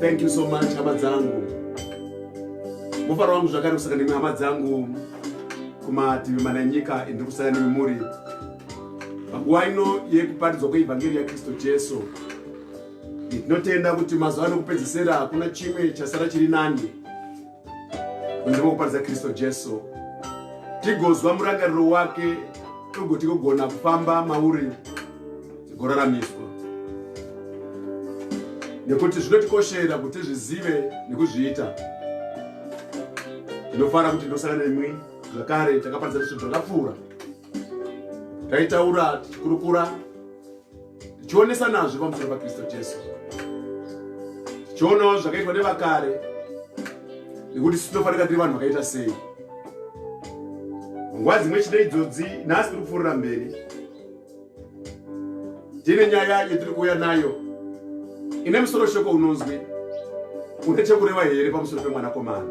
thank you so much hama dzangu mufaro wangu zvakare kusaka nemwe hama dzangu kumativi mana enyika endiri kusaka nemi muri panguva ino yekuparidzwa kweevhangeri yakristu jesu ndinotenda kuti mazuva anokupedzisira hakuna chimwe chasara chiri nani kunze kwekuparidza kristu jesu tigozwa murangariro wake togoti kugona kufamba mauri tigoraramiswa nekuti zvinotikoshera kuti zvizive nekuzviita ndinofara kuti ndosangana nemwi zvakare takaparidza zvinhu zvakapfuura taitaura tichikurukura tichionesa nazvo pamusoro pakristu jesu tichionawo zvakaitwa nevakare nekuti sitofanika tiri vanhu vakaita sei nguva dzimwe chete idzodzi nhasi tiri kupfuurira mberi tine nyaya yetiri kuuya nayo ine musoro shoko unonzwi une chekureva here pamusoro pemwanakomana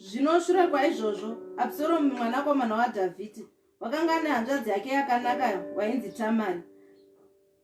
Zvino shure kwaizvozvo, Absoromu mwanakomana waDhavhidhi wakanga ane hanzvadzi yake yakanaka wainzi Tamari.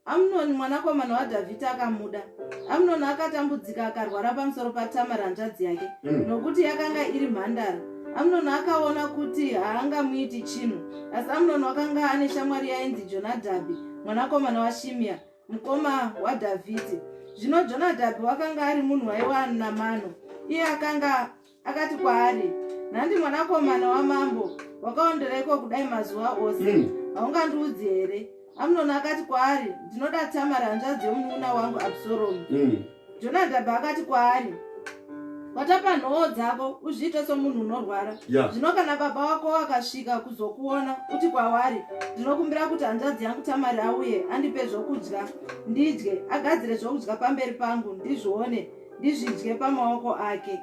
Amunoni mwanakomana waDhavhidhi akamuda. Amunoni akatambudzika akarwara pamusoro paTamari hanzvadzi yake, mm. nokuti yakanga iri mhandara. Amunoni akaona kuti haangamuiti chinhu, asi Amunoni wakanga ane shamwari yainzi Jonadhabhi mwanakomana waShimiya. mukoma wadhavhidhi zvino jonadhabhi wakanga ari munhu waiva anamano iye akanga akati kwaari nhandi mwanakomana wamambo wakaondereiko kudai mazuva ose hmm. haungandiudzi here amunoni akati kwaari ndinoda tamari hanzvadzi yomunun'una wangu absoromu hmm. jonadhabhi akati kwaari watapa nhoo dzako uzviite somunhu unorwara zvino yeah. kana baba wako wakasvika kuzokuona uti kwavari ndinokumbira kuti hanzvadzi yangu tamari auye andipe zvokudya ndidye agadzire zvokudya pamberi pangu ndizvione ndizvidye pamaoko ake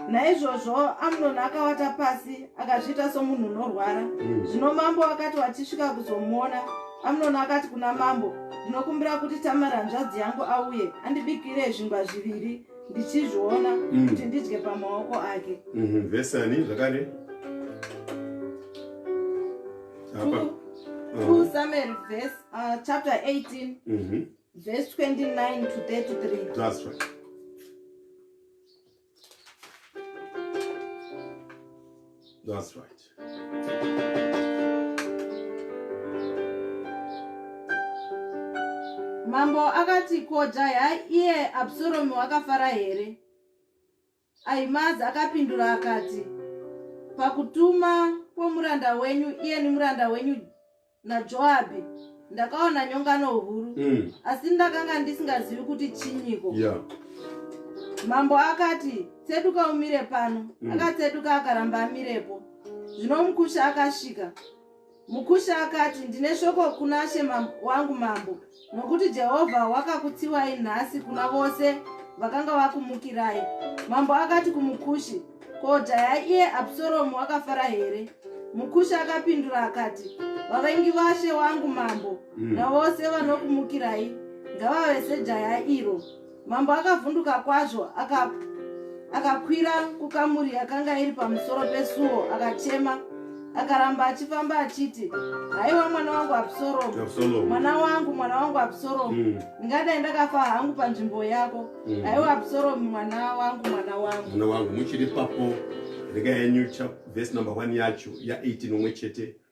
naizvozvo amunoni akawata pasi akazviita somunhu unorwara mm. zvino mambo wakati wachisvika kuzomuona amnoni akati kuna mambo ndinokumbira kuti tamara hanzvadzi yangu auye andibikire zvingwa zviviri ndichizviona mm. kuti ndidye pamaoko ake mhm, vesani zvakare uh-huh. samuel vs uh, chapter 18 mhm. vs 29 to 33 That's right. Mambo akati ko jaya iye Absalomu wakafara here? Ahimazi akapindura akati pakutuma kwomuranda wenyu iye nemuranda wenyu najoabhi ndakaona nyongano huru mm. asi ndakanga ndisingazivi kuti chinyiko yeah. mambo akati tseduka umire pano mm. akatseduka akaramba amirepo zvino mukusha akasvika mukusha akati ndine shoko kuna she wangu mambo Nokuti Jehovha wakakutsiwai nhasi kuna vose vakanga vakumukirai. Mambo akati kumukushi, Ko jaya iye Absoromu akafara here? Mukushi akapindura akati, Vavengi vashe wangu mambo mm. navose vanokumukirai ngavave sejaya iro. Mambo akavhunduka kwazvo aka akakwira kukamuri yakanga iri pamusoro pesuo akachema akaramba achifamba achiti haiwa mwana wangu absoromu mwana wangu mwana wangu absoromu mm. ndingadai ndakafa hangu panzvimbo yako mm. haiwa absoromu mwana wangu mwana wangu mwana wangu muchiri papo rega yenyu vhesi number one yacho ya 18 omwe chete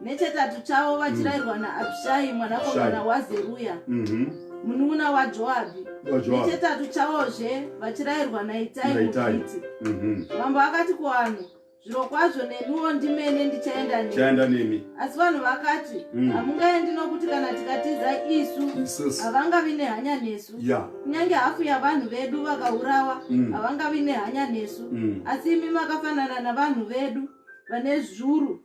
nechetatu chavo vachirairwa naabhishai mwanakomana wazeruya mhm. munun'una wajoabhi nechetatu chavozve vachirairwa naitai mufiti mhm. mambo akati kuvanhu zviro kwazvo nemiwo ndimene ndichaenda nemi asi vanhu vakati mm. hamungaendi nokuti kana tikatiza isu havangavi nehanya nesu kunyange hafu yavanhu vedu vakaurawa mm. havangavi nehanya nesu mm. asi imi makafanana navanhu vedu vane zvuru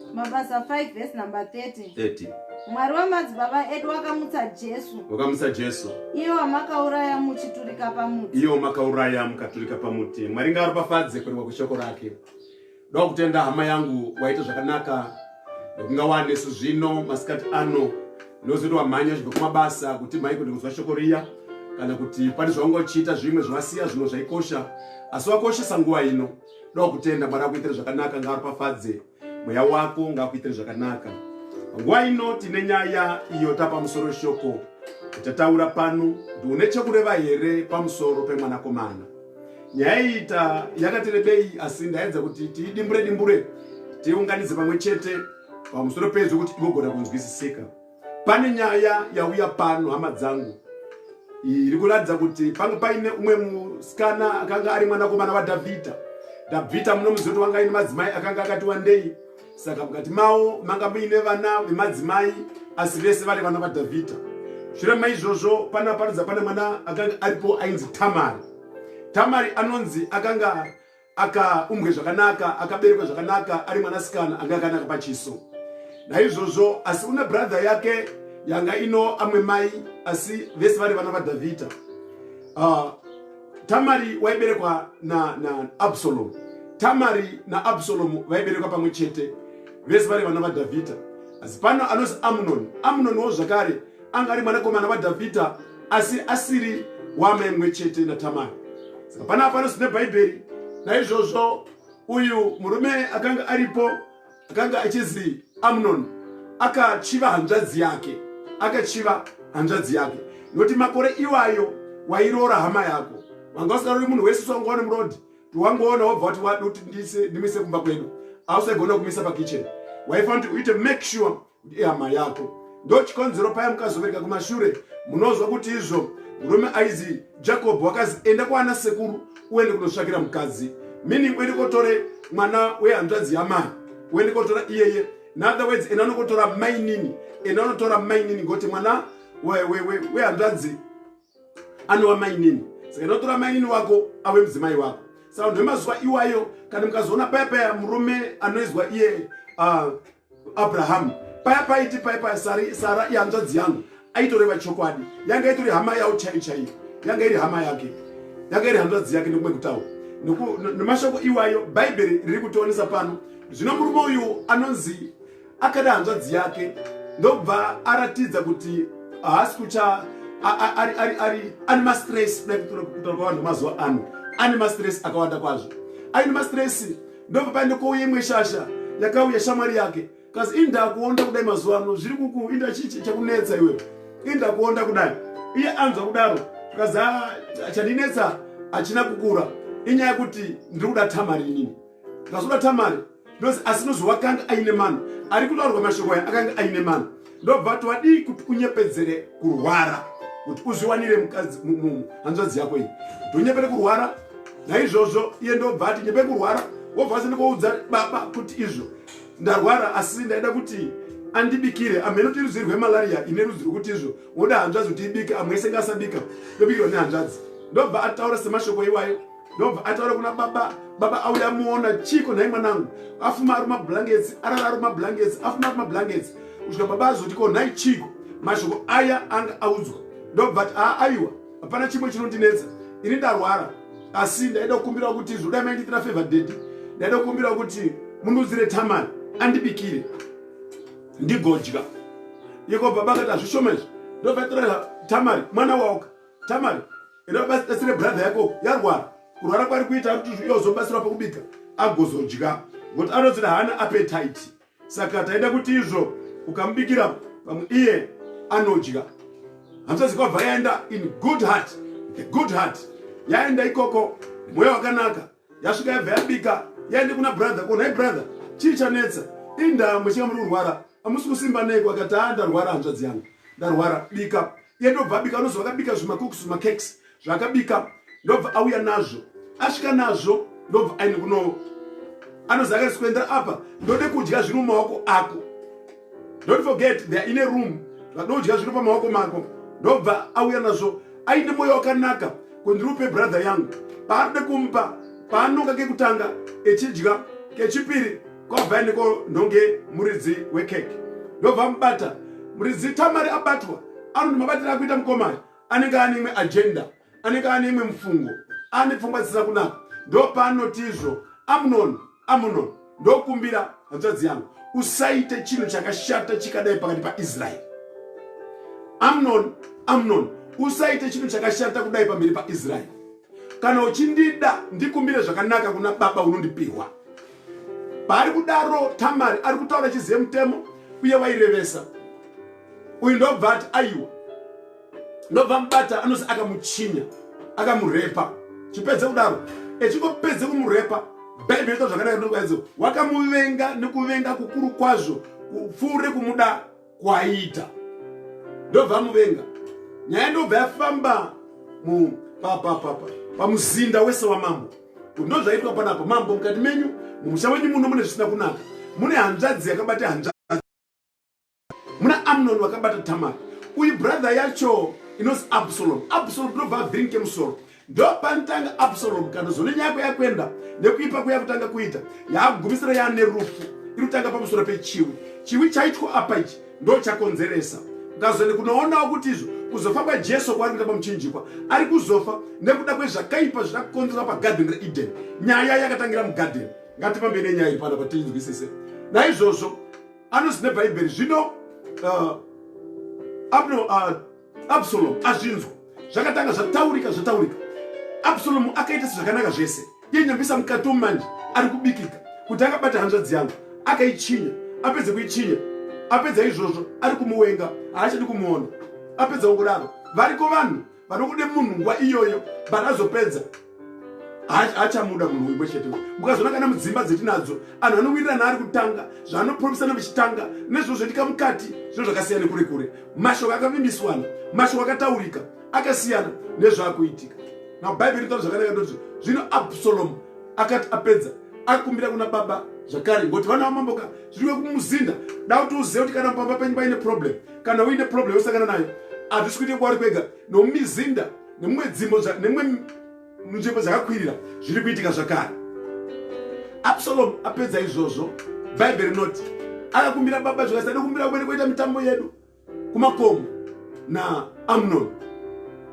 mabasa 5 vhesi number 30 30 mwari wemadzibaba edu wakamutsa jesu wakamutsa jesu iyo wamakauraya muchiturika pamuti iyo makauraya mukaturika pamuti mwari ngaropafadze kurewa kweshoko rake ndoda kutenda hama yangu waita zvakanaka nekunga wanesu zvino masikati ano ndozoti wamhanya zvibva kumabasa kuti mhai kuti kunzwa shoko riya kana kuti pane zvaunga uchiita zvimwe zvawasiya zvimwe zvaikosha asi wakoshesa nguva ino Ndoda kutenda Mwari akuitire zvakanaka ngaaropafadze mweya wako ngaakuitire zvakanaka. Nguva ino tine nyaya iyo tapamusoro shoko tataura pano kuti une chekureva here pamusoro pemwanakomana. Nyaya iyi ta yakati rebei asi ndaedza kuti tiidimbure dimbure tiunganidze pamwe chete pamusoro pezvo kuti igogona kunzwisisika. Pane nyaya yauya pano hama dzangu iri kuratidza kuti panga paine umwe musikana akanga ari mwanakomana waDhavhidha. Dhavhidha munomuziva kuti wanga aine madzimai akanga akati wandei, saka mukati mawo manga muine vana vemadzimai asi vese vari vana vaDhavhidha. Shure maizvozvo pana paridza pane mwana akanga aripo ainzi Tamari. Tamari anonzi akanga akaumbwe zvakanaka akaberekwa zvakanaka ari mwanasikana anga akanaka pachiso naizvozvo asi une brother yake yanga ino amwe mai asi vese vari vana vadhavhidha uh, tamari waiberekwa naabsalomu na tamari naabsalomu vaiberekwa pamwe chete vese vari vana vadhavhidha asi pano anozi amunoni amunoni wo zvakare anga ari mwanakomana wadhavhidha asi asiri waamai mumwe chete natamari saka pana apano sine bhaibheri naizvozvo uyu murume akanga aripo akanga achizi amnoni akachiva hanzvadzi yake akachiva hanzvadzi yake nokuti makore iwayo wairoora hama yako wanga usingarori munhu wese usangoone murodi tiwangoona wobva wati wadi kuti ndimise kumba kwedu ausegona kumisa pakichen waifanira kuti uite make sure ihama yako ndochikonzero paya mukazovereka kumashure munozwa kuti izvo murume aizi jacob wakazi enda kwaana sekuru uende kunotsvakira mukadzi meaning uende kotore mwana wehanzvadzi yamai uende kotora iyeye inother words ena anokotora mainini ena anotora mainini ngokuti mwana wehanzvadzi we, we, we anova mainini saka inotora mainini wako ave mudzimai wako saka ndemazuva iwayo kana mukazoona paya paya murume anoizwa iye uh, Abraham paya paiti paya paya sari sara ihanzvadzi yangu aitoreva chokwadi yanga itori hama yawo chaiyo chaiyo yanga iri hama yake yanga iri hanzvadzi yake nekumwe kutawo nemashoko iwayo bhaibheri riri kutionesa pano zvino murume uyu anonzi akada hanzvadzi yake ndobva aratidza kuti haasi kucha ane mastress kutaura kwavanhu mazuva ano ane mastress akawanda kwazvo aine mastress ndobva pandikouya imwe shasha yakauya shamwari yake kasi indakuonda kudai mazuva ano zviri kuku inda chii chakunetsa iwe indakuonda kudai iye anzwa kudaro zvikazi ah, chandinetsa hachina kukura inyaya yekuti ndiri kuda tamari inini ndikazoda tamari asi nozowakanga aine mano ari kutaurwa mashoko aya akanga aine mano ndobva vati wadii kuti unyepedzere kurwara kuti uzviwanire mukadzi hanzvadzi yako iyi kuti unyepere kurwara naizvozvo iye ndobva ati nyepe kurwara wobva asini koudza baba kuti izvo ndarwara asi ndaida kuti andibikire amheno kuti rudzi rwemalaria ine rudzi rwekuti izvo woda hanzvadzi kuti ibike amwe isenga asabika ndobikirwa nehanzvadzi ndobva ataura semashoko iwayo ndobva ataura kuna baba baba auya muona chiko nhai mwanangu afuma ari mablankets arara ari mablankets afuma ari mablankets kusvika baba azoti ko nhai chiko mashoko aya anga audzwa ndobva ati aa aiwa hapana chimwe chinondinetsa ini ndarwara asi ndaida kukumbirawo kuti zvoda maindiitira favor dedi ndaida kukumbirawo kuti mundudzire tamani andibikire ndigodya iko baba akati hazvishoma izvi ndobva itora tamari mwana waoka Tamari, enda ubatsire brother yako yarwara. Kurwara kwari kuita ari kuti iyo zobatsirwa pakubika agozodya. Ngokuti anonzi haana appetite. Saka taida kuti izvo ukamubikira pamwe iye anodya. Hanzvadzi kwabva yaenda in good heart, the good heart. Yaenda ikoko mweya wakanaka. Yasvika yabva yabika, yaende kuna brother, ko nhai brother, chii chanetsa? Indaa mwechinga muri kurwara, amusi kusimba neiko akati haa ndarwara hanzvadzi yangu. Ndarwara bika. iye ndobva abika anoziva akabika zvimakuks zvimakeks zvaakabika ndobva auya nazvo asvika nazvo ndobva aine kuno anoziva akati sikuendera apa ndode kudya zviri mumaoko ako don't forget theyare in a room vadodya zviri pamaoko mako ndobva auya nazvo aine mwoyo wakanaka kuti ndiri upe brother yangu paanode kumupa paanonga kekutanga echidya kechipiri kwabva ndiko ndonge muridzi wekeke ndobva mubata muridzi tamari abatwa anoti mabatira akuita mukomana anenge ane imwe ajenda anenge ane imwe mufungo ane pfungwa dzisina kunaka ndopaanoti izvo amunon amunon ndokumbira hanzvadzi yangu usaite chinhu chakashata chikadai pakati paisraeri amnon amnon usaite chinhu chakashata kudai pamberi paisraeri kana uchindida ndikumbire zvakanaka kuna baba unondipihwa paari kudaro tamari ari kutaura achizive mutemo uye wairevesa uyu ndobva ati aiwa ndobva mubata anozi akamuchinya akamurepa chipedze kudaro echingopedze kumurepa bhaibheri ita zvakadai nokwadzo wakamuvenga nekuvenga kukuru kwazvo kupfuure kumuda kwaita ndobva muvenga nyaya ndobva yafamba papapapa pamuzinda wese wamambo ndozvaitwa panapa mambo mukati menyu mumusha wenyu muno mune zvisina kunaka mune hanzvadzi yakabata hanzvadzi muna amnon vakabata tamar uyu brother yacho inozi absalom absalom ndobva avhirinke musoro ndopanotanga absalomu kando zone nyako yakuenda nekuipa kuya kutanga kuita yaakugumisira yaane rufu irikutanga pamusoro pechiwi chiwi chaitwa apa ichi ndo chakonzeresa ukazone kunoonawo kuti izvo kuzofa kwajesu kwaari kuita pamuchinjikwa ari kuzofa nekuda kwezvakaipa zvida kukonzerwa pagadheni reedeni nyaya yakatangira mugadheni ngatipambe nenyaya iri pano patinzwisise naizvozvo anozine bhaibheri zvino uh, abno uh, absalomu azvinzwa zvakatanga zvataurika zvataurika absalomu akaita sezvakanaka zvese iye nyambisa mukati omanje ari kubikika kuti akabata hanzvadzi yangu akaichinya apedze kuichinya apedza izvozvo ari kumuwenga haachadi kumuona apedza ukudaro variko vanhu vanokude munhu nguva iyoyo but azopedza achamuda munhu wimwe chete mukazoona kana mudzimba dzetinadzo anhu anowirirana ari kutanga zvaanopromesana vichitanga nezvo zvoitika mukati zvino zvakasiyana nekure kure mashoko akavimbiswana mashoko akataurika akasiyana nezvaakuitika now bhaibheri rinotaura zvakanaka ndoti zvino absalomu akati apedza akumbira kuna baba zvakare ngokuti vana vamamboka zviriwe kumuzinda da kuti uzive kuti kana pamba penyu paine problem kana uine problem yosangana nayo hazvisi kuite kwauri kwega nomumizinda nemumwe dzimbo nemumwe nzvimbo dzakakwirira zviri kuitika zvakare absalomu apedza izvozvo bhaibheri rinoti akakumbira baba zvakati tadikumbira kumene kuita mitambo yedu kumakomo na amnon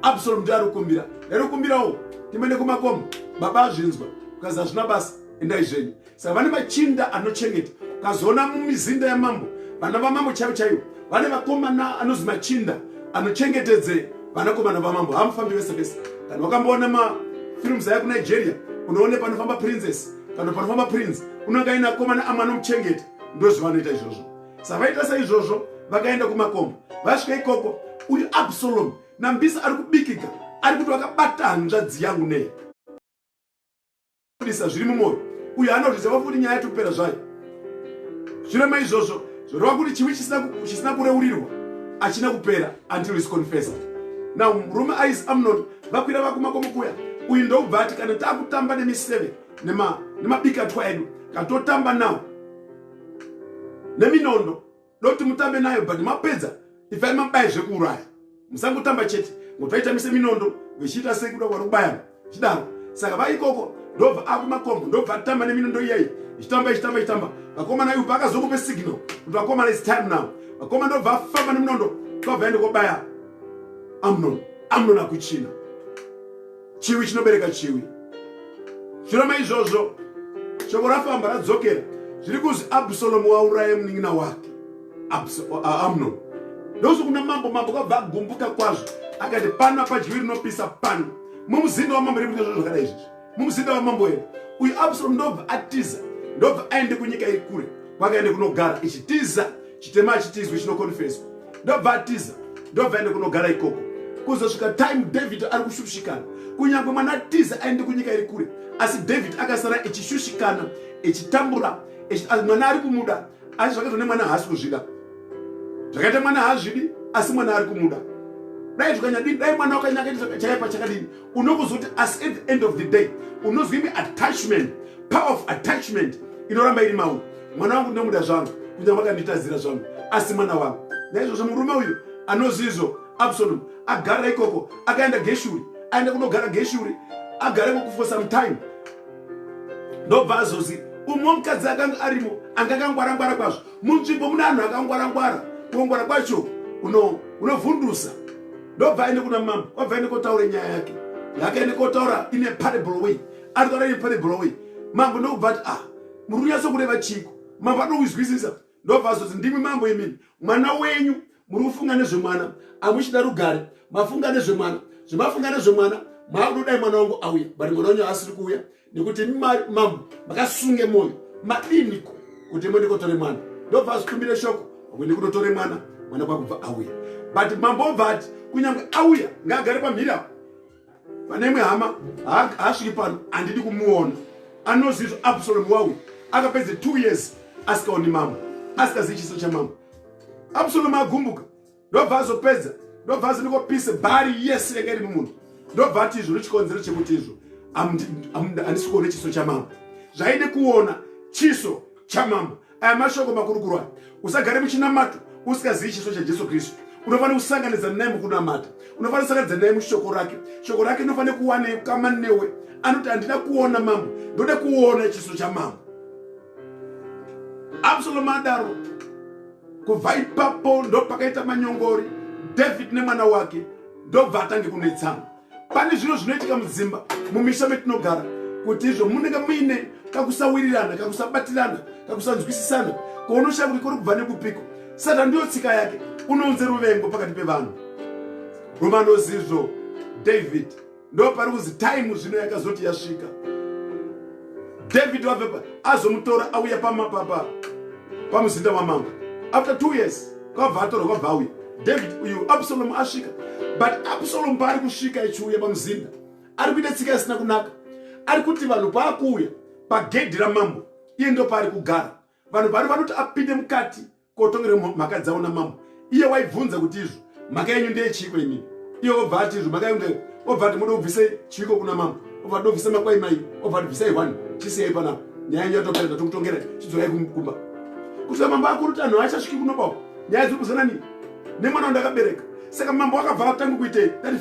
absalom ndi arikumbira arikumbirawo timene kumakomo baba azvinzwa ukazi hazvina basa endai zvenyu Savane machinda anochengeta kazoona mumizinda yamambo vana vamambo chaivo chaivo vane vakomana anozi machinda anochengetedze vanakomana vamambo hamufambi vese vese kana wakamboona mafilms aya kunigeria unoone panofamba princess kana panofamba prince unenge aine akomana amwe anomuchengeta ndozvavanoita izvozvo savaita saizvozvo vakaenda kumakomba vasvika ikoko uyu absalomu nambisa ari kubikika ari kuti wakabata hanzvadzi yangu nei anobudisa zviri mumwoyo uyo anozviziva kuti nyaya yatopera zvayo zvino maizvozvo zvoreva kuti chivi chisina kureurirwa achina kupera until is confessed now murume ais amnon vakwira vakumakomokuya uyu ndokubva ati kana takutamba nemiseve nemabikatwa edu katotamba now neminondo doti mutambe nayo but mapedza ibvai mabaye zvekuuraya musangotamba chete ngokuti vaitamise minondo vechiita sei kuda kwari kubayana chidaro saka vaikoko ndobva akumakombo ndobva atamba neminondo iyayi ichitamba ichitamba ichitamba vakomana ivo paakazokupe signal kuti vakomana is time now vakoma ndobva afamba neminondo kwabva ende kobaya amnon amnon akuchina chiwi chinobereka chiwi shure maizvozvo shoko rafamba radzokera zviri kuzi absalomu wauraye munin'ina wake amnon ndokuti kuna mambo mambo kwabva agumbuka kwazvo akati pano apadyiwi rinopisa pano mumuzinda wamambo riri kuitazvo zvakadai izvizvi mumuzinda wamambo ere uyu absalomu ndobva atiza ndobva aende kunyika iri kure kwakaende kunogara ichitiza chitema hachitizwi chinokonfeswa ndobva atiza ndobva aende kunogara ikoko kuzosvika time david ari kushushikana kunyange mwana tiza aende kunyika iri kure asi david akasara echishushikana echitambura mwana ari kumuda asi zvakaitwa nemwana haasi kuzvida zvakaita mwana haazvidi asi mwana ari kumuda dai zvikanyadini dai mwana wakanyakaita chakaipa chakadini unokuzoti asi at the end of the day unozwa imi attachment power of attachment inoramba iri mauri mwana wangu ndinomuda zvangu kunyanga makanditadzira zvangu asi mwana wangu naizvozvo murume uyu anozizvo absalom agara ikoko akaenda geshuri aenda kunogara geshuri agara ikoko for some time ndobva azozi umwe mukadzi akanga arimo anga akangwarangwara kwazvo munzvimbo mune anhu akangwarangwara kungwara kwacho unovhundusa ndobva aende kuna mambo kwabva aende kotaura nyaya yake yakaende kotaura ine parable way anotaura ine parable way mambo ndokubva ati ah muri kunyatso kureva chiko mambo anokuzwisisa ndobva azoti ndimi mambo imini mwana wenyu muri kufunga nezvemwana amuchida rugare mafunga nezvemwana zvemafunga nezvemwana maakutodayi mwana wangu auya but mwana wenyu asiri kuuya nekuti mambo makasunge moyo madiniko kuti mwende kotore mwana ndobva azvitumbire shoko wende kunotore mwana mwana kwakubva auya but mambo obva ati kunyange auya ngaagare pamhiri apo pane imwe hama haasviki pano handidi kumuona anozizvo absalom wauya akapedze two years asikaoni mambo asikazivi chiso chamambo absalom agumbuka ndobva azopedza ndobva aziniko pise bari yese yanga iri mumunhu ndobva ati izvo nechikonzero chekuti izvo handisi kuona chiso chamambo zvaide kuona chiso chamambo aya mashoko makurukuru aya usagare muchinamato usikazivi chiso chajesu kristu unofanira kusanganidza naye mukunamata unofanira kusanganidza naye mushoko rake shoko rake inofanira kuwana kama newe anoti handina kuona mambo ndoda kuona chiso chamambo absalomu adaro kubva ipapo ndopakaita manyongori david nemwana wake ndobva atange kunetsana pane zviro zvinoitika mudzimba mumisha metinogara kuti izvo munenge muine kakusawirirana kakusabatirana kakusanzwisisana kounoshaya kuti kuri kubva nekupiko satan ndiyo tsika yake unounze ruvengo pakati pevanhu romanozizvo david ndopari kuzi time zvino yakazoti yasvika david wavepa azomutora auya pamapapa pamuzinda wamambo after two years kwabva atorwa kwabva auya david uyu absalomu asvika but absalomu paari kusvika echiuya pamuzinda ari kuita tsika isina kunaka ari kuti vanhu paakuuya pagedhi ramambo iye ndopaari kugara vanhu vari vanoti apinde mukati kotongera mhaka dzavo namambo iye waibvunza kuti izvo mhaka yenyu ndeye chiiko imini iye obva ati izvo mhaka yenyu ndeye obva ati moda kubvisa chiiko kuna mambo obva ati ndobvisa makwai mai obva ati bvisai hwani chisiyai panapa nyaya yenyu yatopera tatokutongera chidzorai kumba kusvika mambo akuru tanhu haachasviki kunobawo nyaya dziri kuzana nini nemwana wandakabereka saka mambo akabva atanga kuitei that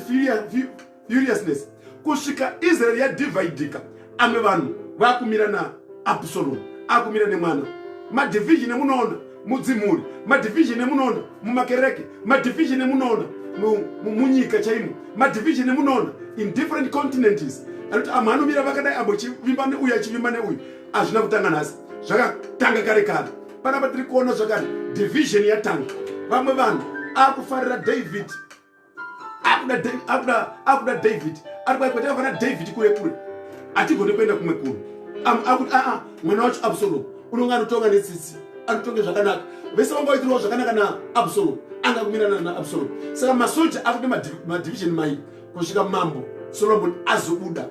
furiousness kusvika israeri yadhivhaidhika amwe vanhu vakumira naabsalomu akumira nemwana madhivhizhini emunoona mudzimhuri madhivhizhini emunoona mumakereke madhivhizhini emunoona munyika chaimo madhivhizhini emunoona in different continents anoti amwe anomira vakadai abo chivimba neuyu achivimba neuyu hazvina kutanga nhasi zvakatanga kare kare panapa tiri kuona zvakare dhivhizhini yatanga vamwe vanhu akufarira david akuda david ari kwaikoti avana david kure kure atigone kuenda kumwe kuru akuti aa mwana wacho absalom unonge anotonga netsitsi anotonge zvakanaka vese vanga vaitirawo zvakanaka naabsalom anga kumirana naabsalom saka masoja akuti madivision mai kusvika mambo solomon azobuda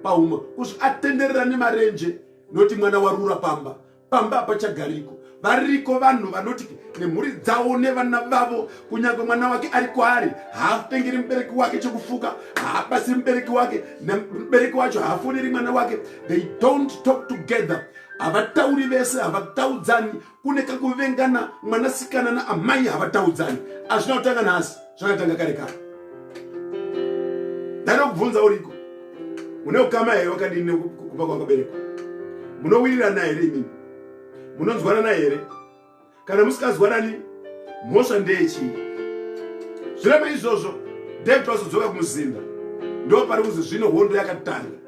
pauma kusvika atenderera nemarenje nokuti mwana warura pamba pamba hapachagariko variko vanhu vanoti nemhuri dzavo nevana vavo kunyange mwana wake ari kwaari haatengeri mubereki wake chekufuka haabasi mubereki wake nemubereki wacho haafoneri mwana wake they don't talk together havatauri vese havataudzani kune kakuvengana mwanasikana naamai havataudzani azvina kutanga nhasi zvakatanga kare kare ndanokubvunza uriko une ukama here wakadini nekuba kwakaberekwa munowirirana here imimi munonzwanana here kana musikazwanani mhosva ndeyechii zvireme izvozvo david wazodzoka kumuzinda ndo pari kuzi zvino hondo yakatanga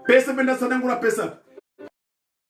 pese pendatsanangura pese apa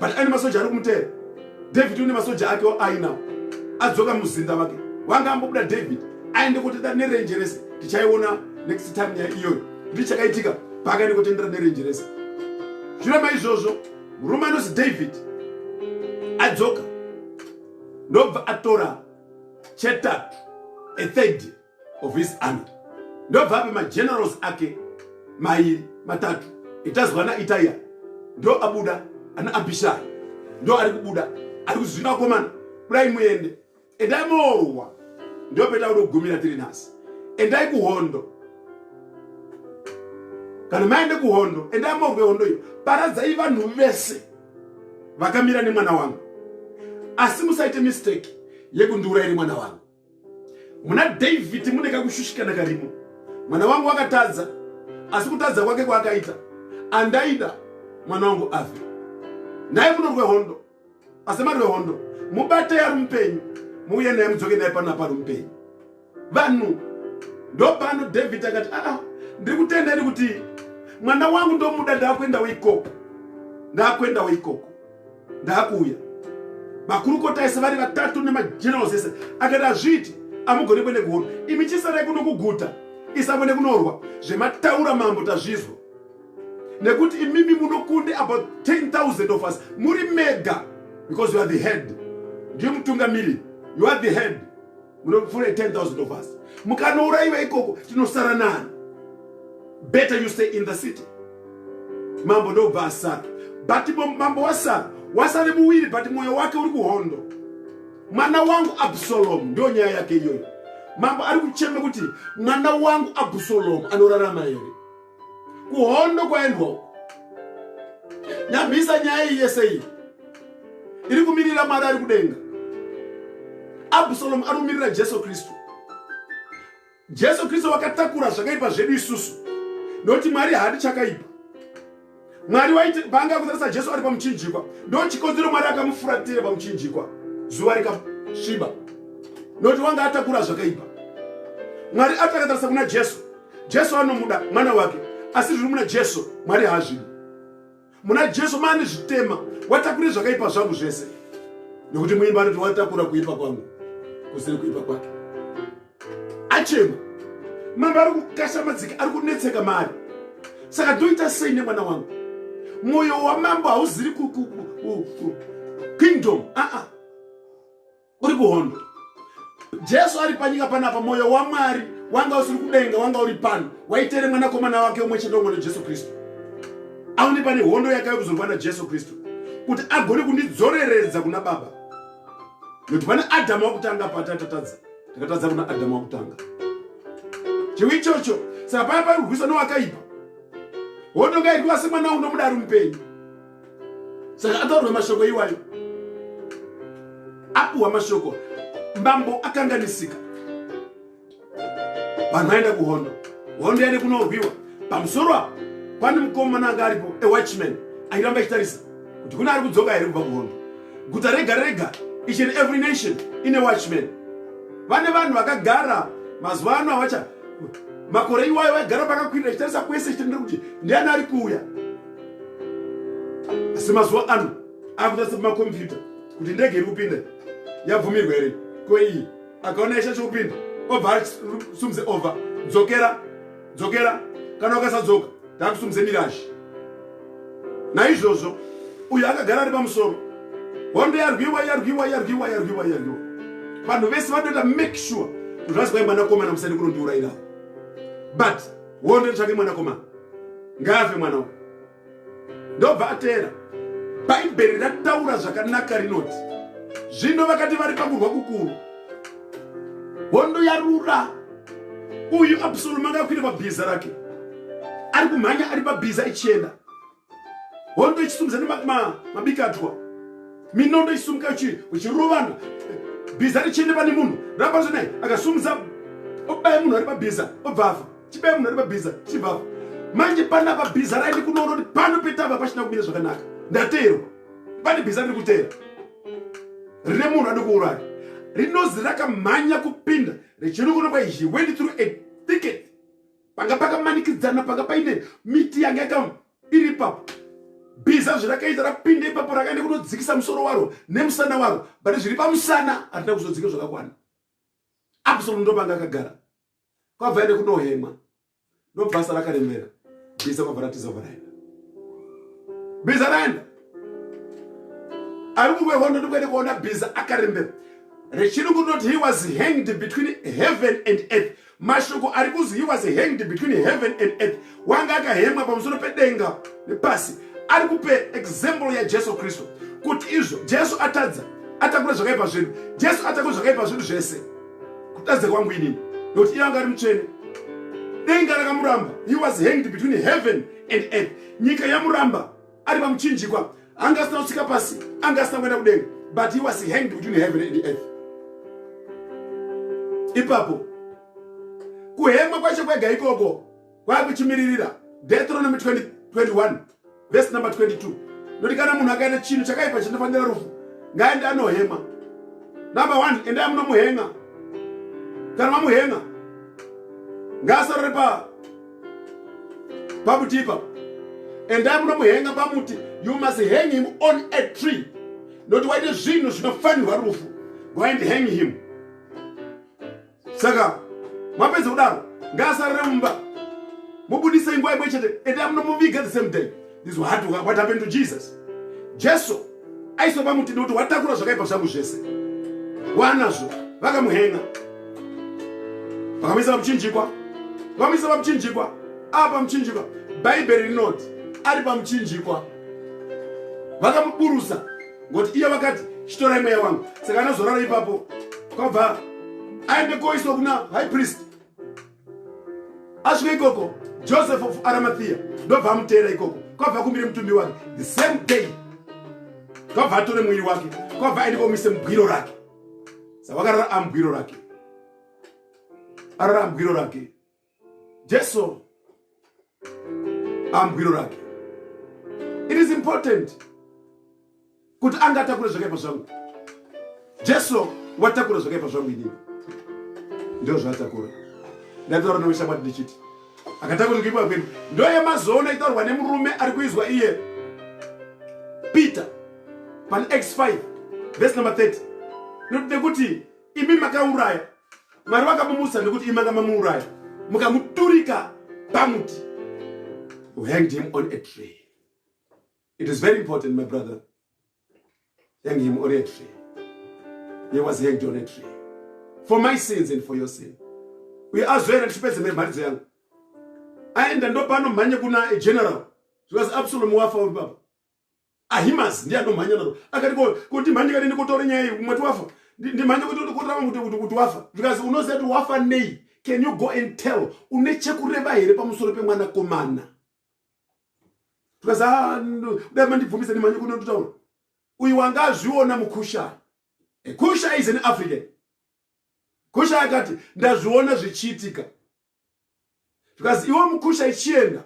but ane masoja ari kumuteera david une masoja ake ainawo adzoka muzinda vake wanga ambobuda david aende kotenda nerenje rese tichaiona next time nyaya iyoyo ndi chakaitika paakaende kotendera nerenje rese zviramba izvozvo murume anozi david adzoka ndobva atora chetatu ethird of his army ndobvapi magenerals ake mairi matatu itazwa naitaiya ndo abuda ana abhishai ndo ari kubuda ari kuzvina komana kudai muende endai moorwa ndo petakuda kugumira tiri nhasi endai kuhondo kana maende kuhondo endai moorwe hondo iyo paradzai vanhu vese vakamira nemwana wangu asi musaite mistake yekundiurayiri mwana wangu muna david mune kakushushikana karimo mwana wangu wakatadza asi kutadza kwake kwaakaita andaida mwana wangu afe naye munorwe hondo asi marwe hondo mubate yari mupenyu muuye naye mudzoke naye pano apari mupenyu vanhu ndopano david akati aa ah, ah, ndiri kutenda ini kuti mwana wangu ndomuda ndakuendawo ikoko ndakuendawo ikoko ndakuuya makurukota ese vari vatatu nemagenerals ese akati hazviiti amugone kwende kuhono imi chisarai kuno kuguta isangwende kunorwa zvemataura mambo tazvizwa nekuti imimi munokunde about 10000 of us muri mega because you are the head ndiye mutungamiri you are the head munopfuura 10000 of us mukanouraiva ikoko tinosara nani better you stay in the city mambo ndobva asara but mambo wasara wasare muviri but mwoyo wake uri kuhondo mwana wangu absalomu ndiyo nyaya yake iyoyo mambo ari kucheme kuti mwana wangu absalomu anorarama here kuhondo kwaendwa uko nyambisa nyaya iyi yese iyi iri kumirira mwari ari kudenga absalomu ari kumirira jesu kristu jesu kristu vakatakura zvakaipa zvedu isusu nokuti mwari haadi chakaipa mwari waiti paanga kutarisa jesu ari pamuchinjikwa ndo chikonzero mwari akamufuratira pamuchinjikwa zuva rikasviba nokuti wanga atakura zvakaipa mwari ati akatarisa kuna jesu jesu anomuda mwana wake asi zviri muna jesu mwari haazvidi muna jesu maane zvitema watakure zvakaipa zvangu zvese nokuti muimba anoti watakura kuipa kwangu kusiri kuipa kwake achema mambo ari kukasha madzika ari kunetseka mari saka ndoita sei nemwana wangu mwoyo wamambo hauziri kingdom aa ah, ah. uri kuhondo jesu ari panyika panapa mwoyo wamwari wanga usiri kudenga wanga uri pano waitere mwanakomana wake umwe chete umwe jesu kristu aone pane hondo yakave kuzorwa najesu kristu kuti agone kundidzoreredza kuna baba nokuti pane adhamu wakutanga patatatadza takatadza kuna adamu wakutanga chivi ichocho saka paya pari kurwisa nowakaipa hondo ngairwiwa semwana unomuda ari mupenyu saka ataurwa mashoko iwayo apuhwa mashoko mbambo akanganisika vanhu vaenda kuhondo hondo yaende kunorwiwa pamusoro apo pane mukomana anga aripo ewatchman airamba ichitarisa kuti kune ari kudzoka here kubva kuhondo guta rega rega each and every nation ine watchman vane vanhu vakagara mazuva ano avacha makore iwayo vaigara pakakwirira chitarisa kwese chitendere kuti ndiani ari kuuya asi mazuva ano akutarisa pamakompyuta kuti ndege iri kupinda yabvumirwa here ko iyi akaona yasha chokupinda obva asumze over dzokera dzokera kana ukasadzoka takusumudze mirashi naizvozvo uyo akagara ari pamusoro hondo yarwiwa yarwiwa yarwiwa yarwiwa yarwiwa vanhu vese vanoita make sure kuzvazi kwai mwanakomana musani kunondiurairawo but hondo itsvake mwanakomana ngaafe mwana uyu ndobva ateera bhaibheri rataura zvakanaka rinoti zvino vakati vari pakurwa kukuru hondo yarura uyu absalomu anga akwira pabhiza rake ari kumhanya ari pabhiza ichienda hondo ichisumudza nemabikatwa minondo ichisumuka uchirovana bhiza richienda pane munhu rapazo naye akasumudza obaya munhu ari pabhiza obva afa chibe munhu ari mabhiza chibva manje pana pabhiza raini kunoona kuti pano petava pachina kumira zvakanaka ndateerwa pane bhiza riri kuteera rine munhu adi kuuraya rinozi rakamhanya kupinda richiri kuno kwa he went through a thicket panga pakamanikidzana panga paine miti yanga yaka iri ipapo bhiza zvirakaita rapinda ipapo rakaenda kunodzikisa musoro waro nemusana waro but zviri pamusana hatina kuzodzika zvakakwana absolut ndopanga akagara kwabva ende kunohemwa ndobasa rakarembera biza kwabva ratiza kwabva raenda biza raenda ari kumwe hondo ndikuende kuona biza akarembera rechirungu rinoti he was hanged between heaven and earth mashoko ari kuzi he was hanged between heaven and earth wanga akahemwa pamusoro pedenga nepasi ari kupe example yajesu kristu kuti izvo jesu atadza atakura zvakaipa zvedu jesu atakura zvakaipa zvedu zvese kutadza kwangu inini nokuti iye anga ari mutsvene denga rakamuramba he was hanged between heaven and earth nyika yamuramba ari pamuchinjikwa anga asina kusvika pasi anga asina kuenda kudenga but he was hanged between heaven and earth ipapo kuhemwa kwacho kwega ikoko kwakuchimiririra deuteronomy 20, 21 vhesi number 22 noti kana munhu akaita chinhu chakaipa chinofanira rufu ngaende anohema number one endai munomuhenga kana mamuhenga ngaasarore pa pamuti ipapo endai munomuhenga pamuti you must hang him on a tree noti waite zvinhu zvinofanirwa rufu go and hang him saka mapedza kudaro ngaasarire mumba mubudise inguva imwe chete ende amunomuviga the same day is what, what happened to jesus jesu aisopa muti nekuti watakura zvakaipa zvangu zvese wanazvo vakamuhenga vakamuisa pamuchinjikwa vamuisa pamuchinjikwa ava pamuchinjikwa bhaibheri rinoti ari pamuchinjikwa vakamuburusa ngokuti iye vakati chitorai mweya wangu saka anozorara ipapo kwabva aende koiswa kuna high priest asvika ikoko joseph of aramathiya ndobva amuteera ikoko kwabva akumbire mutumbi wake the same day kwabva atore mwiri wake kwabva aende komuise mugwiro rake saka wakarara amugwiro rake arara amugwiro rake Jesu ambwiro rake. It is important kuti anga atakura zvakaipa zvangu. Jesu watakura zvakaipa zvangu inini. Ndio zvaatakura. Ndatotaura neushamwari ndichiti akatakura kuipa kwedu ndoye mazoona itaurwa nemurume ari kuizwa iye Peter pan x5 verse number 30 nekuti imi makauraya Mwari vakamumutsa nekuti imanga mamuuraya mukamuturika pamuti you hanged him on a tree it is very important my brother hang him on a tree he was hanged on a tree for my sins and for your sin uye azoenda ndichipedze mharidzo yangu aenda ndopano mhanye kuna general zvikazi absolom wafa uri baba Ahimazi ndiye anomhanya naro akati ko kuti mhanye kadi ndikotore nyaya iyi kumwe tiwafa ndimhanye kuti ndikotore kuti kuti kuti wafa because unoziva kuti wafa nei can you go and tell une chekureva here pamusoro pemwana komana because ah dai mandibvumisa ndimhanye kuti ndotaura uyu wanga azviona mukusha kusha is an african kusha akati ndazviona zvichiitika because iwe mukusha ichienda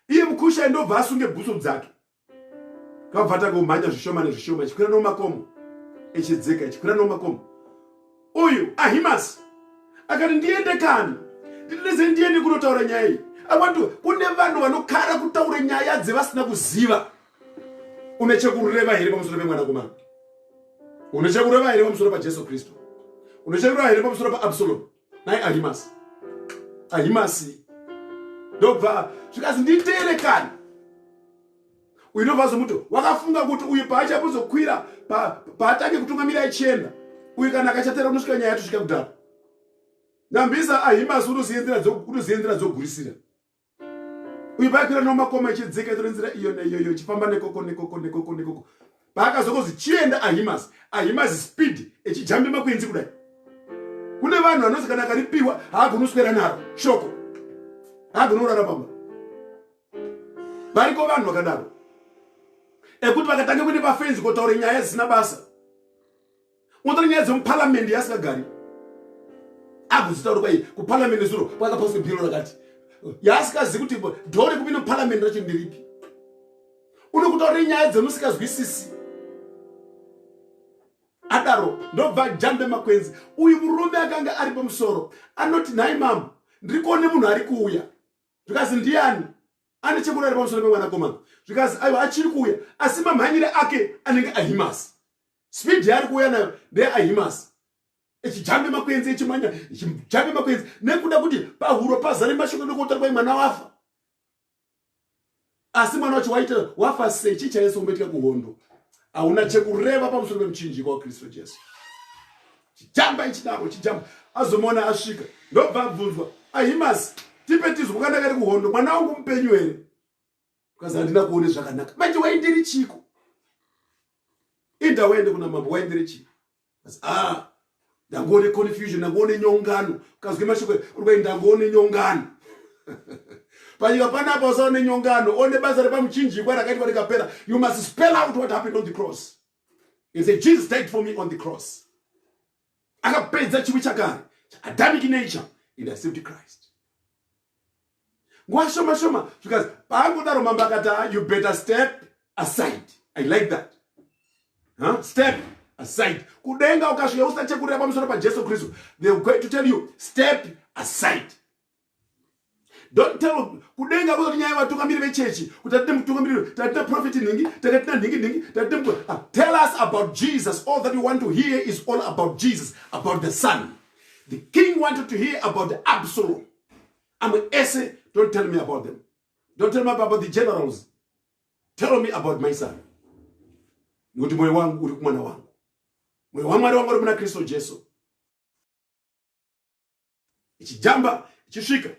iye mukushai ndobva asunge bhutsu dzake kabva takomhanya zvishoma nezvishoma chikwira nomakomo echidzeka chikwira nomakomo uyu ahimasi akati ndiende kani ndinese ndiende kunotaura nyaya iyi akwati kune vanhu vanokara kutaura nyaya dzevasina kuziva une chekureva here pamusoro pemwanakomana une chekureva here pamusoro pajesu kristu une chekureva here pamusoro paabsalomu nai ahimasi ahimasi ndobva zvikazi nditere kani uyu ndobva azomuto wakafunga kuti uyu paachapozokwira paatange kutungamira achienda uyu kana akachatera kunosvika nyaya yatosvika kudhara nambisa ahimasi unoziendera dzogurisira uyu paakwira nomakoma ichidzika itore nzira iyo neiyoyo ichifamba nekoko nekoko nekoko nekoko paakazoko zvichienda ahimas ahimas speed echijambe makwenzi kudai kune vanhu vanozi kana akaripiwa haagoni kuswera naro shoko haagoni kurara pamba variko vanhu vakadaro ekuti vakatanga kuende pafenzi kotaura nyaya dzisina basa Unotora nyaya dzemuparliament yaasingagari akudzitaurwa iyi kuparliament zuro kwakapaswa bhiro rakati yaasikazi kuti dhoo rekupinda muparliament racho ndiripi unokutaurira nyaya dzemusikazwisisi adaro ndobva jambe makwenzi uyu murume akanga ari pamusoro anoti nhai mama ndiri kuone munhu ari kuuya zvikazi ndiyani ane chekuda ari pamusoro pemwanakomana zvikazi aiwa achiri kuuya asi mamhanyire ake anenge ahimasi speed yaari kuuya nayo ndeahimas echijambe makwenzi echimanya echijambe makwenzi nekuda kuti pahuro pazare mashoko nekuotora kwai mwana wafa asi mwana wacho waita wafa sei chii chaese kumboitika kuhondo hauna chekureva pamusoro pemuchinjiko wakristu jesu chijamba ichidaro chijamba azomuona asvika ndobva abvunzwa ahimasi tipe tizwa kandakari kuhondo mwana wangu mupenyu here Because handina kuone zvakanaka. Manje waindiri chiko. Inda waende kuna mambo waindiri chiko. Because ah ndangoone confusion ndangoone nyongano kazwe mashoko uri ndangoone nyongano panyika panapa usaone nyongano one basa repamuchinjikwa rakaitwa rikapera you must spell out what happened on the cross and say jesus died for me on the cross akapedza chivi chakare chaadamic nature and accept christ nguva shoma shoma zvikazi paangodaro mambo akati ah, you better step aside i like that huh? step aside kudenga ukasvika usachekurira pamusoro pajesu kristu they going to tell you step aside Don't tell kudenga kuzoti nyaya vatungamiri vechechi kuti tatine mutungamiriro tatine profeti nhingi takatina nhingi nhingi tatine mkuru ah, tell us about jesus all that you want to hear is all about jesus about the son the king wanted to hear about the absolom amwe ese don't tell me about them don't tell me about the generals tell me about my son nokuti mwoyo wangu uri kumwana wangu mwoyo wamwari wangu uri muna kristu jesu ichijamba ichisvika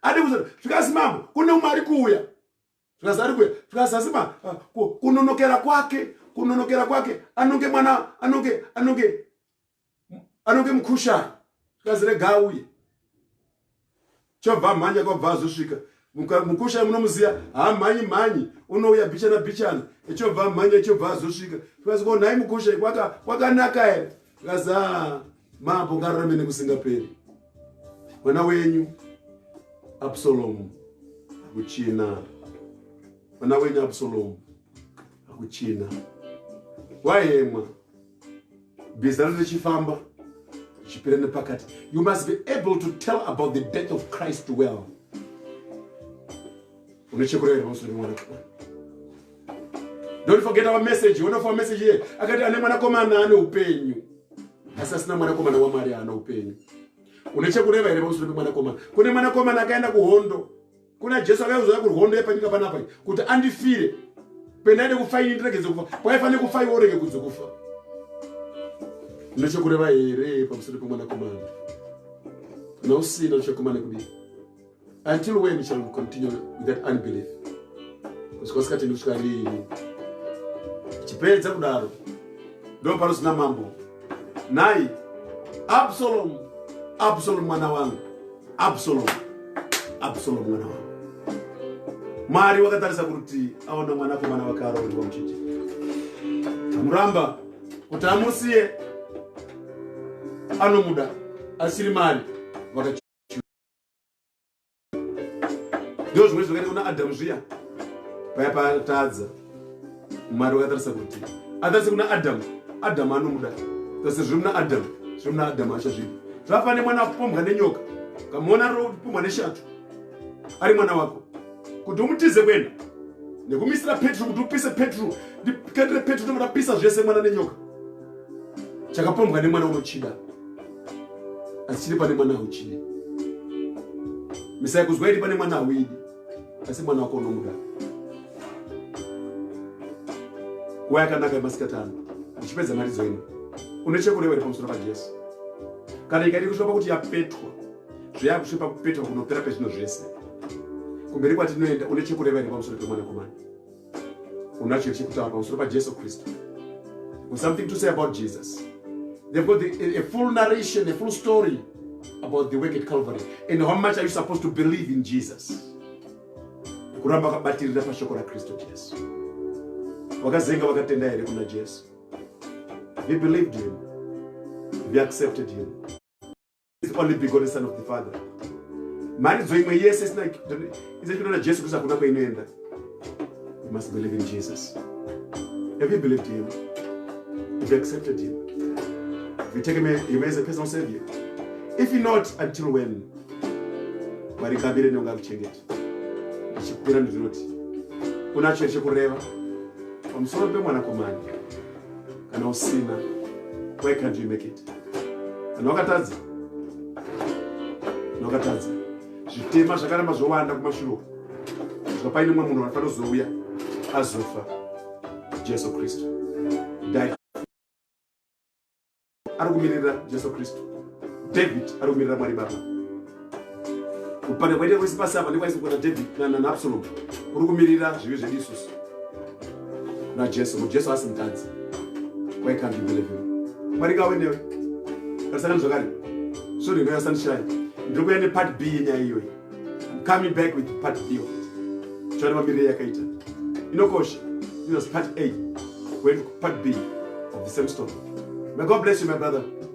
adi kuza zvikazi mambo kune umwe ari kuuya zvikazi ari kuuya zvikazi asi ma ah, kunonokera kwake kunonokera kwake anonge mwana anonge anonge anonge mukushani zvikazi rega auye chobva mhanya kwabva azosvika mukusha munomuziva hamhanyi mhanyi unouya bichana bichana echobva amhanya echobva azosvika tikasi ko nhai mukusha kwakanaka here tikasi a mambo ngaramene kusingaperi mwana wenyu absalomu akuchina mwana wenyu absalomu akuchina wayemwa bezano richifamba richipera nepakati you must be able to tell about the death of christ well unochekureva here pamusoro pemwana kamwana don't forget our message one of our message here akati ane mwanakomana ane upenyu asi asina mwanakomana wamwari haana upenyu une chekureva here pamusoro pemwanakomana kune mwanakomana akaenda kuhondo kuna jesu akauzouya kurwondo yepanyika panapa kuti andifire pendaide kufa ini ndiregedze kufa kwaifanire kufa iwe urege kunze kufa nechekureva here pamusoro pemwanakomana kana usina uchakomana kudii until when shall we continue with that unbelief kusvika usikatendi kusvika riini chipedza kudaro ndopanozina mambo nhai absalomu absalomu mwana wangu absalomu absalomu mwana wangu mwari wakatarisa kuti aona mwanakomana wake aroorerwa muchiti amuramba kuti amusiye anomuda asiri mari ndizvo zvimwe zvakaita kuna adamu zviya paya patadza mwari wakatarisa kuti atarise kuna adamu adamu anomuda kasi zviri muna adamu zviri muna adamu acho zvipi zvafana nemwana akupombwa nenyoka kamuona ropombwa neshato ari mwana wako kuti umutize kwena nekumisira petro kuti upise petro ndikandire petro ndoda pisa zvese mwana nenyoka chakapombwa nemwana unochida asi chiri pane mwana hauchidi misai kuzwa iri pane mwana hauidi asi mwana wako unomuda nguva yakanaka yemasikati ano uchipedza mharidzo ino une chekureva iri pamusoro pajesu kana ikaidi kusvika pakuti yapetwa zveyakusvika pakupetwa kunopera pezvino zvese kumberi kwatinoenda une chekureva iri pamusoro pemwanakomana unacho chekutaura pamusoro pajesu kristu or something to say about jesus they've got the, a, a full narration a full story about the work at calvary and how much are you supposed to believe in jesus kuramba akabatirira pashoko rakristu jesu vakazenga vakatenda here kuna jesu he believed him he accepted him It's only begotten son of the father mharidzo imwe yese isina izachiona jesu kristu hakuna kwainoenda you must believe in jesus have you believed him have you accepted him have you taken him as a personal savior if you not until when mwari kabire nonga kuchengeta ndichikupira ndinoti unacho here chekureva pamusoro pemwanakomana kana usina why can't you make it kana wakatadza kana wakatadza zvitema zvakaramba zvowanda kumashuro kusvika paine mumwe munhu anofanira kuzouya azofa jesu kristu dai ari kumirira jesu kristu david ari kumirira mwari baba kupanda kwaita kwese pasi apa ndekwaisokota david naabsalom kuri kumirira zvivi zvedu isusu najesu kuti jesu asi mutadzi waikandibeleve mwari kawe newe karisakani zvakare sure inoya sunshine ndiri kuya nepart b yenyaya iyoyi coming back with part b choona mamirire yakaita inokosha this was part a went part b of the same story may god bless you my brother